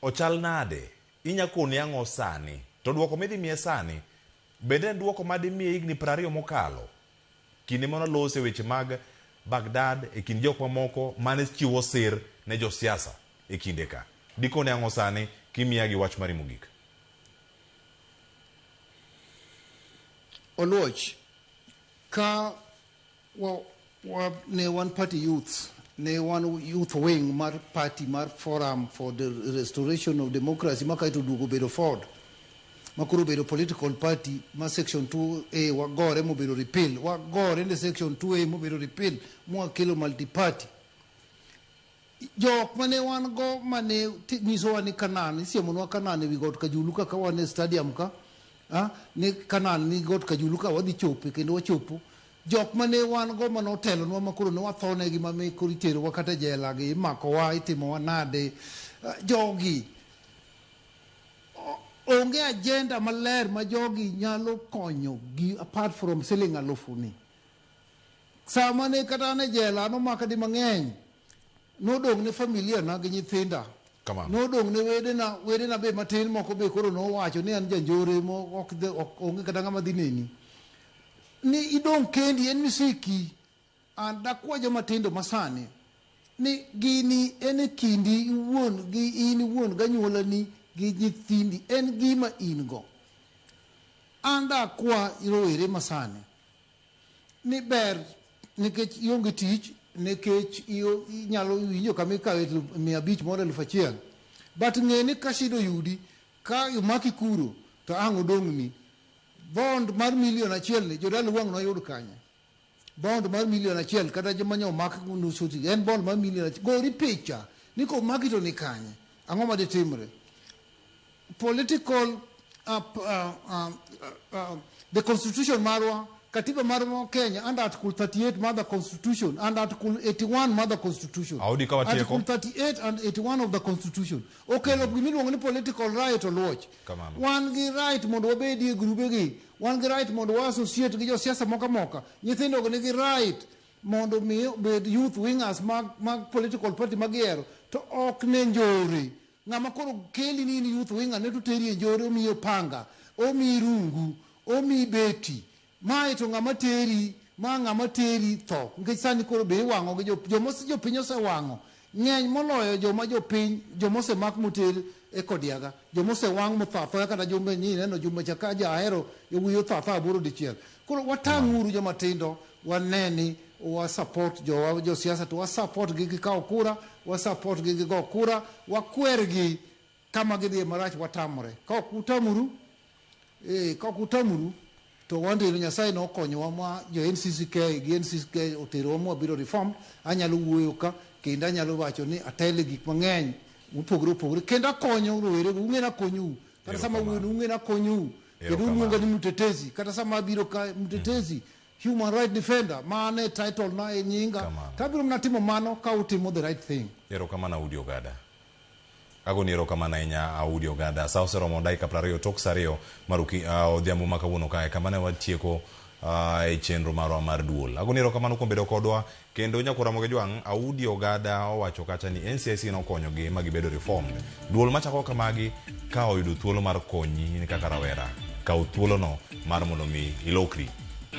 S1: ochal nade inya koni ang'o sani to dwoko midhi miye sani bende en dwoko ma dimiye higni piero ariyo mokalo kinde mano lose weche mag bagdad e kind jok mamoko mane chiwo sir ne josiasa e kinde ka dikoni ang'o sani kimiya gi wach mari mogik
S2: Oluoch, ka wa, wa, ne wan party youths, ne wan youth wing mar party mar Forum for the Restoration of Democracy ma kaeto oduogo bedo Ford ma koro obedo political party ma section 2A wagore mobedo repeal, wagore ne section 2A mobedo repeal mwakelo multi party Jok ma ne wan go ma ne ti- nyisowa ni Kanan, isiemonwa Kanan ewi got Kajulu kaka wan e stadium ka, ah, ni Kanan ni got Kajulu ka wadhi chope kendo wachopo. Jok ma ne wan go ma notelonwa ma koro ne wathonegi ma me koro iterowa kata jela gi imakowa itimowa nade. Ah, Jogi onge agenda maler ma jogi nyalo konyo gi apart from selling alufu ni. Sama ne kata an e jela nomaka di mang'eny. Nodong' ne familia na gi nyithinda. Kamano.
S1: Nodong' ne
S2: wedena, wedena be matin moko be koro nowacho ni an janjore mo ok dhi- ok- onge kata ng'ama dhi neni. Ni idong' kendi en misiki. An dakwa joma tindo masani ni gini en e kindi iwuon gi in iwuon ganyuolani gi nyithindi en gima in go. An dakwa rowere masani ni ber nikech ionge tich nikech iyo- inyalo winjo kama ikawe elfu mia abich moro elfu achiel but ng'e ni ka shida oyudi ka omaki kuro to ang' odong'ni bond mar milion achiel ni jodala wang' noyud kanye bond mar milion achiel kata joma nyo omak nusu ti en bond mar milion achiel gori picha ni komaki to ni kanye ang'o ma ditimre political uh, uh, uh, uh, the constitution marwa katiba marwa kenya under article 38 mother constitution and article 81 mother constitution Audi kawa tieko. article 38 and 81 of the constitution okelo mm -hmm. gimiluongo ni political right oluoch Kamano. wan gi right mondo wabedie grubegi wan gi right mondo wa associate gi josiasa moko amoka nyithindogo nigi right mondo mi bed youth wingers mag, mag political party magihero to ok ne njore Ng'ama koro keli ni in youth wing ane to teri e njore omiyi opanga, omiyi rungu, omiyi beti. Mae to ng'ama teri, ma ng'ama teri tho. Nikech sani koro be iwang'o gi jo, joma ose- jopiny osewang'o. Ng'eny moloyo joma jopiny, joma osemak moter e kodiaga. Joma osewang' motho athoya kata Jumbe nyi ineno Jumbe Chakaja ahero yawuoyi otho athoya aboro dichiel. Koro watang' uru joma tindo, wane ni wa support jowa jo siasa to wa support gi gikawo kura, wa support gi gigo kura, wakwergi kama gidhiye marach watamore. Ka ok utamuru, eh, ka ok utamuru to wandino Nyasaye ne okonyowa ma jo NCCK gi NCCK oterowa ma wabiro reform, anyalo wuoyo ka kendo anyalo wacho ni atele gik mang'eny mopogore opogore kendo akonyo rowere, ung'e ni akonyou kata sama wuon ung'e nakonyou kendo uluonga ni mtetezi kata sama abiro ka mtetezi mm. human right defender mane e title na e nyinga tabiro mna timo mano ka utimo the right thing erokamano audi ogada
S1: agoni erokamano ahinya audi ogada sa oseromo dakika piero ariyo tok sa ariyo mar ah, odhiambo ma kawuono kae kama ne watieko ah, e chenro marwa mar duol agoni erokamano kuom bedo kodwa Kendo Nyakuro Ramogi Ojwang', Audi Ogada owacho kacha ni NCIC nokonyogi ma gibedo reformed. Duol machako kamagi ka oyudo thuolo mar konyi in kaka rawera, kaw thuolono mar mondo mi ilokri.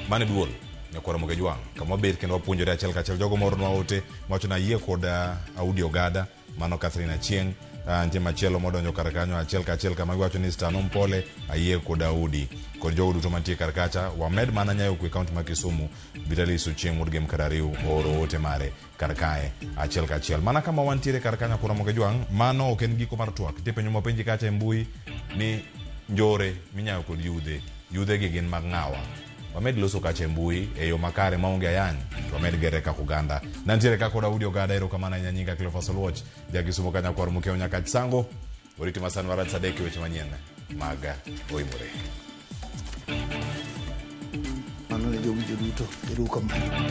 S1: Mano e duol Nyakuro Ramogi Ojwang'. Kama wabet kendo wapuonjore achiel kachiel jogo moornwa ote mawacho ni ayie kod Audi Ogada. Mano Catherine Achieng'. Ah, nitie machielo modonjo kar kanyo achiel ka achiel kama giwacho ni Stano Mpole ayie kod Daudi kod jogo duto mantie kar kacha wamed mana nyayo kwe kaunti ma Kisumu Vitalis Ochieng' wuod Gem Karariu ooro ote mare kar kae achiel ka achiel mana kama wantiere kar kanyo kura moge jwang' mano ok en giko mar twak nitie penjo mopenji kacha e mbui ni njore minyayo kod yudhe yudhegi gin mag ng'awa wamed loso kache mbui e yo makare maonge ayany to wamed gere kaka oganda nantiere kaka odaudi ogada erokamano ahinya nyinga cleofas oluoch jakisumo kanyakwar mukeo nyaka chisango oriti masani warad sadek e weche manyien mag oimore
S2: mano ne jowinjo duto erukamano